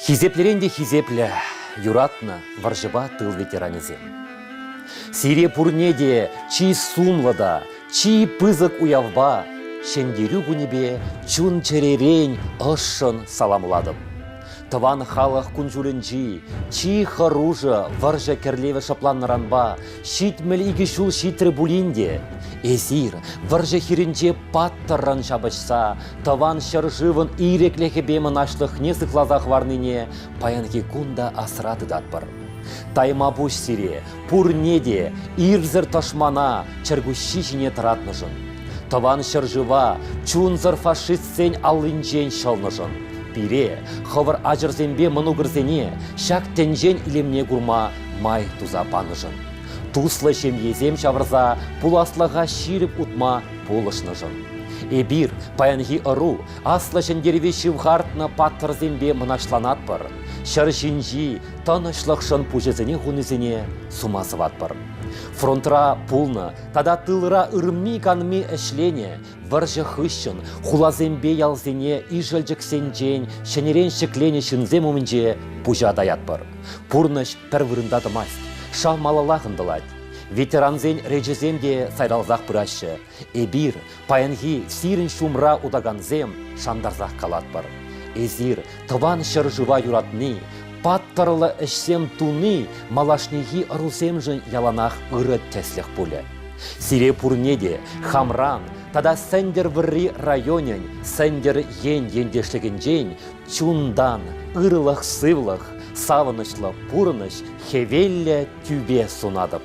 Хисеплӗрен те хисеплӗ, юратнӑ вӑрҫӑпа тыл ветеранӗсем. Сире пурне те чи сумлӑ та чи пысӑк уявпа, Ҫӗнтерӳ кунӗпе чун-чӗререн ӑшшӑн саламлатӑп. Тӑван халӑх кун-ҫулӗнчи чи хӑрушӑ вӑрҫӑ кӗрлевӗ шӑпланнӑранпа ҫитмӗл икӗ ҫул ҫитрӗ пулин те эсир вӑрҫӑ хирӗнче паттӑррӑн ҫапӑҫса тӑван ҫӗршывӑн ирӗклӗхӗпе мӑнаҫлӑхне сыхласа хӑварнине паянхи кун та асра тытатпӑр. Таймапуҫ сире пурне те ирсӗр тӑшмана чӗркуҫҫи ҫине тӑратнӑшӑн. Тӑван ҫӗршыва чунсӑр фашист Сцен аллинчен ҫӑлнӑшӑн пире, хӑвӑр ачӑрсемпе мӑнукӑрсене ҫак тӗнчен илемне курма май туса панӑшӑн, туслӑ ҫемьесем ҫавӑрса пуласлӑха ҫирӗп утма пулӑшнӑшӑн, эпир, паянхи ӑру, Аслӑ Ҫӗнтерӗве ҫывхартнӑ паттӑрсемпе мӑнаҫланатпӑр, ҫӗр ҫинчи тӑнӑҫлӑхшӑн пуҫӗсене хунисене сума сӑватпӑр. Фронтра пулнӑ тата тылра ырми-канми ӗҫленӗ Вӑрҫӑ хыҫҫӑн хуласемпе ялсене ишӗлчӗксенчен ҫӗнӗрен ҫӗкленӗ ҫынсем умӗнче пуҫа таятпӑр. Пурнӑҫ пӗр вырӑнта тӑмасть, шав малаллах ӑнтӑлать. Ветерансен речӗсем те сайралсах пыраҫҫӗ. Эпир, паянхи сирӗн ҫумра утакансем, шантарсах калатпӑр. Эсир тӑван ҫӗршыва юратни, паттӑрлӑ ӗҫсем туни малашнехи ӑрусемшӗн яланах ырӑ тӗслӗх пулӗ. Сире пурне те хамран тата Сӗнтӗрвӑрри районӗн Сӗнтӗр ен ентешлӗхӗнчен чунтан ырлӑх-сывлӑх, савӑнӑҫлӑ пурӑнӑҫ, хӗвеллӗ тӳпе сунатӑп.